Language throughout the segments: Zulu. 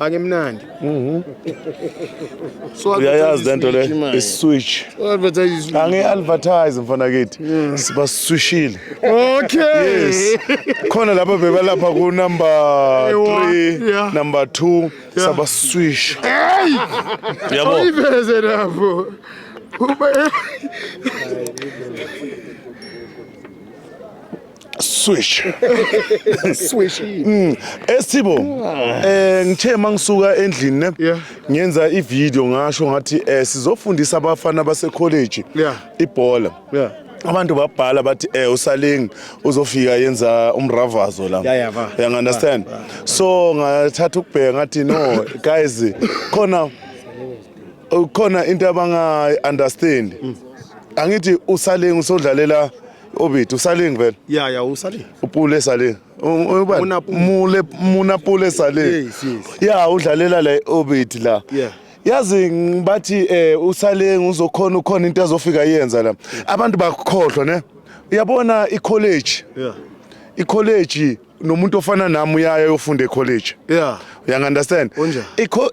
Akemnandi. Mhm. So uyayazi lento le iswitch. Advertise. Angi advertise mfana kithi. Mm. Siba swishile. Okay. Yes. Khona lapha bebalapha ku number 3, yeah. number 2 yeah. saba swish. Hey! Yabo. Oyiveze lapho. Uba swish swish mm. esibo eh ngithe mangisuka endlini ne ngenza i video ngasho ngathi eh sizofundisa abafana base college ibhola yeah abantu babhala bathi eh usalingi uzofika yenza umravazo la yeah, yeah, you understand yeah, yeah. so ngathatha ukubheka ngathi no guys khona khona into abanga understand mm. angithi usalingi usodlalela Obiti usaling vele. Yeah yeah usaling. Upule saling. Ubani? Mule muna pule saling. Yes yes. Yeah udlalela la Obiti la. Yeah. yazi bathi eh usale ngizokhona ukhona into azofika yenza la abantu bakukhohlwa ne uyabona i college yeah i college nomuntu ofana nami uyaya yofunda ecollege yeah uyangunderstand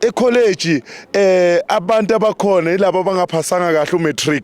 ecollege eh abantu abakhona yilabo abangaphasanga kahle umatric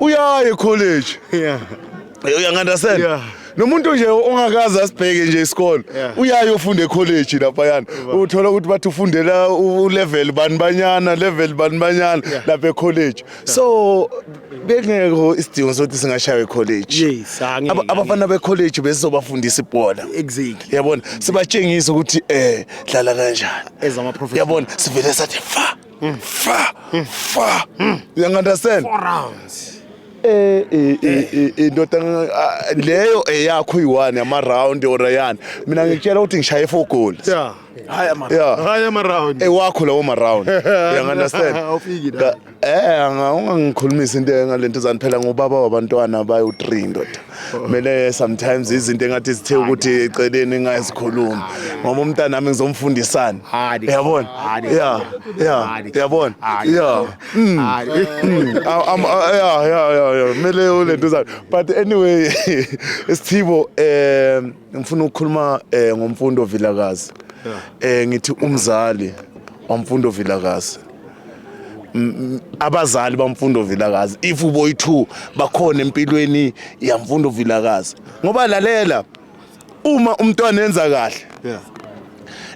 uyaye college yeah uyangandastand yeah nomuntu nje ongakaze asibheke nje isikole uyaye ufunda ecollege laphayana uthola ukuthi bathi ufundela ulevel bani banyana level bani banyana lapha ecollege so bekungekho isidingo sokuthi singashaywa ecollege abafana becollege bezizobafundisa ibhola yabona sibatshengise ukuthi um dlala kanjani yabona sivele sathi fa Mm. Fa, mm. fa. Mm. You understand? Four rounds. Eh, eh, eh, eh, eh ndoda ah, leyo eyakho uyiwani ama round or yani mina ngikutshela ukuthi ngishaye four goals yeah hayi ama yeah hayi ama round ewakho lawo ma round you understand awufiki la eh ungangikhulumisa into engalento zaniphela ngubaba wabantwana bayo 3 ndoda Mele sometimes izinto engathi zithe ukuthi eceleni engazikhulumi. Ngoba umntana nami ngizomfundisana. Yabona? Yeah. Yeah. Yabona? Yeah. Mm. Mm. I'm uh, yeah, yeah, yeah, yeah. Mele ulento zakhe. But anyway, Sithibo eh ngifuna ukukhuluma eh ngomfundo Vilakazi. Eh ngithi umzali wamfundo Vilakazi. abazali bamfundo vilakazi if uboy 2 bakhona empilweni yamfundo vilakazi ngoba lalela uma umntwana enza kahle yeah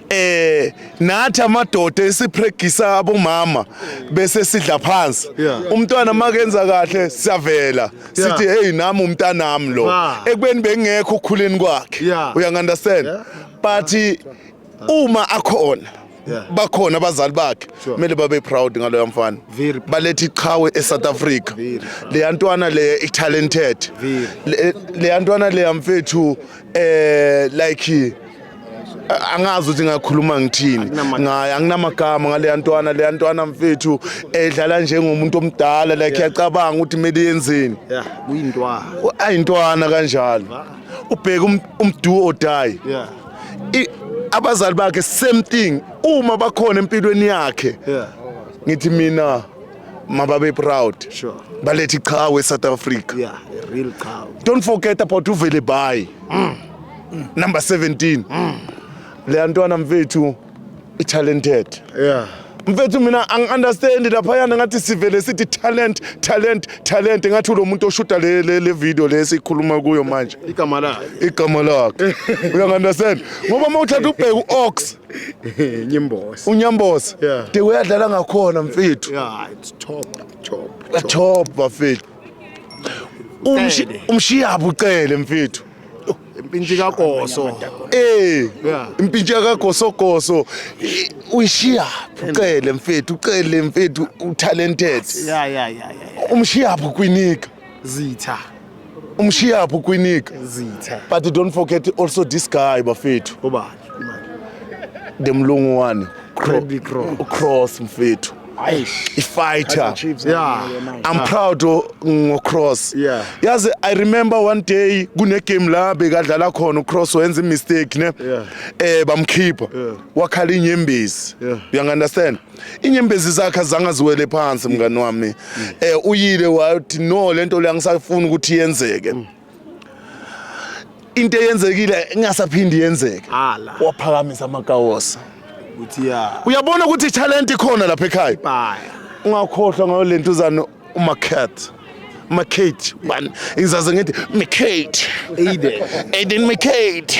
eh nathi amadoda esipregisa abomama bese sidla phansi umntwana makenza kahle siyavela sithi hey nami umntanami lo ekubeni bengekho ukhuleni kwakhe uya understand but uma akhona bakhona abazali bakhe kumele babe proud ngaloya mfana baletha iqhawe eSouth Africa leya ntwana le talented leya ntwana leya mfethu eh like angazi ukuthi ngakhuluma ngithini ngaye anginamagama ngaleya ntwana leya ntwana mfethu edlala njengomuntu omdala like yacabanga ukuthi kumele yenzeni kuyintwana ayintwana kanjalo ubheka um, umdu or die yeah abazali bakhe same thing uma bakhona empilweni yakhe yeah ngithi mina mababe proud sure balethi qhawe eSouth Africa yeah a real qhawe don't forget about uvele bayi mm. number 17 mm. le ntwana mfethu i-talented yeah mfethu mina angi-understand laphayana ngathi sivele sithi talent talent talent ngathi ulo muntu oshuta le, le, le video le esikhuluma kuyo manje igama lakhe igama lakhe uyangi-understand ngoba uma uthatha ubheke u-ox nyimbosi unyambosi Yeah. de uyadlala ngakhona mfethu yeah it's top top top bafethu Umshi- umshiyaphi ucele mfethu impintshi kagoso Eh, Yeah. impintshi yakagosogoso i- uyishiyaphi ucele mfethu ucele mfethu utalented ya ya ya ya ya. umshiyaphi ukwinika zitha umshiyaphi ukwinika zitha but don't forget also this guy bafethu ubani the mlungu wani Bradley Cross. cross mfethu ifighter Yeah. i'm proud o- ngocross Yeah. yazi i remember one day kunegame la bekadlala khona ucross wenza imistake ne Yeah. eh bamkhipha Yeah. wakhala inyembezi Yeah. uyangunderstand inyembezi zakhe azange aziwele phansi mngani wami eh uyile wathi no lento le angisafuni ukuthi yenzeke into eyenzekile ingasaphindi yenzeke Ala. waphakamisa amakawosa ukuthi ya uyabona ukuthi italent ikhona lapha ekhaya baya ungakhohlwa ngayo le ntuzane umacat macate bani ngizaze ngithi macate aiden aiden macate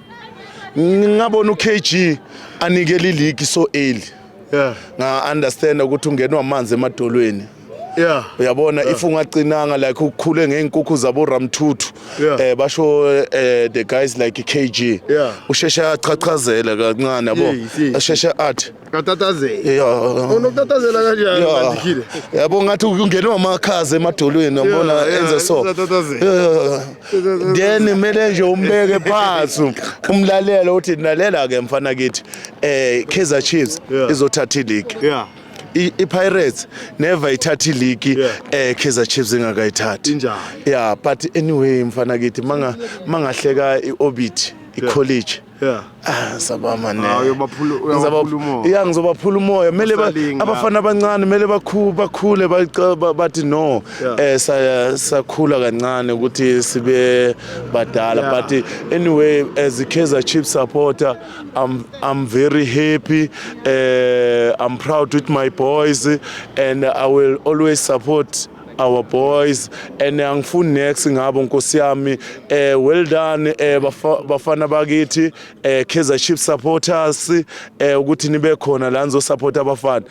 ngingabona uKG anikele iligi so early yeah nga understand ukuthi ungenwa amanzi emadolweni yeah uyabona yeah. if ungacinanga like ukhule ngeenkukhu zabo Ramthuthu yeah. eh basho eh the guys like KG yeah usheshe achachazela kancane yabo asheshe athi Katatazela. Yeah. Unokutatazela kanjani Yeah. mandikhile? yabo ngathi ungenwa amakhaza emadolweni yabona Yeah, yeah, enze so usatatazela. Yeah. then kumele nje umbeke phansi umlalele uthi nalela ke mfana kithi eh Kaizer Chiefs Yeah. izothatha ileague Yeah. I- iPirates never ithatha ileague Yeah. eh Kaizer Chiefs ingakayithathi Injalo. yeah but anyway mfana kithi manga mangahleka iOrbit iCollege Yeah. Ah, sabama ne. Hawu uyobaphula uyobaphula umoya. Yeah, ngizobaphula umoya. Mele abafana abancane mele bakhu bakhule bathi no. Eh sakhula kancane ukuthi sibe badala but anyway as a Kaizer Chiefs supporter I'm I'm very happy. Uh, I'm proud with my boys and I will always support our boys and angifuni next ngabo nkosi yami eh well done eh bafana bakithi eh Kaizer Chiefs supporters eh ukuthi nibe khona la nizo support abafana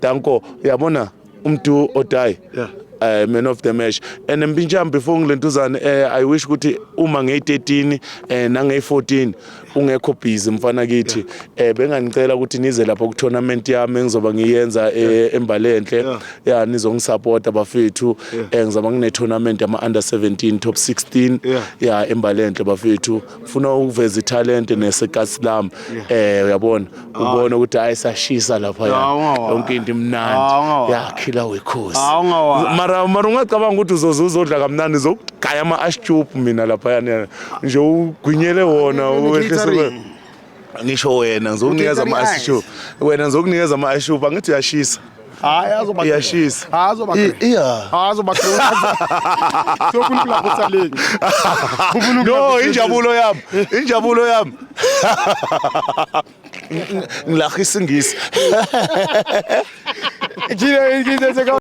danko uyabona umdu odayi yeah uh, man of the match and mpintshami before ngilentuzane uh, eh, i wish ukuthi uma ngeyi-13 uh, eh, nangeyi-14 ungekho busy mfana kithi eh benganicela ukuthi nize lapha ku tournament yami engizoba ngiyenza eh, embalenhle ya nizongisupporta bafethu eh ngizoba ngine tournament ama under 17 top 16 ya embalenhle bafethu ngifuna ukuveza italent nesekasi lami eh uyabona ubone ukuthi hayi sashisa lapha yonke into imnandi yakhila wekhosi mara mara ungacabanga ukuthi uzoze uzodla kamnandi zokugaya ama ashtup mina lapha yana nje ugwinyele wona wehlise ngisho wena ngizokunikeza ama ashtup wena ngizokunikeza ama ashtup angithi uyashisa hayi azoba iyashisa hayi azoba iya hayi azoba sokuni kula kusa leki no injabulo yami injabulo yami ngilahisa ingisi Jina ingisi seka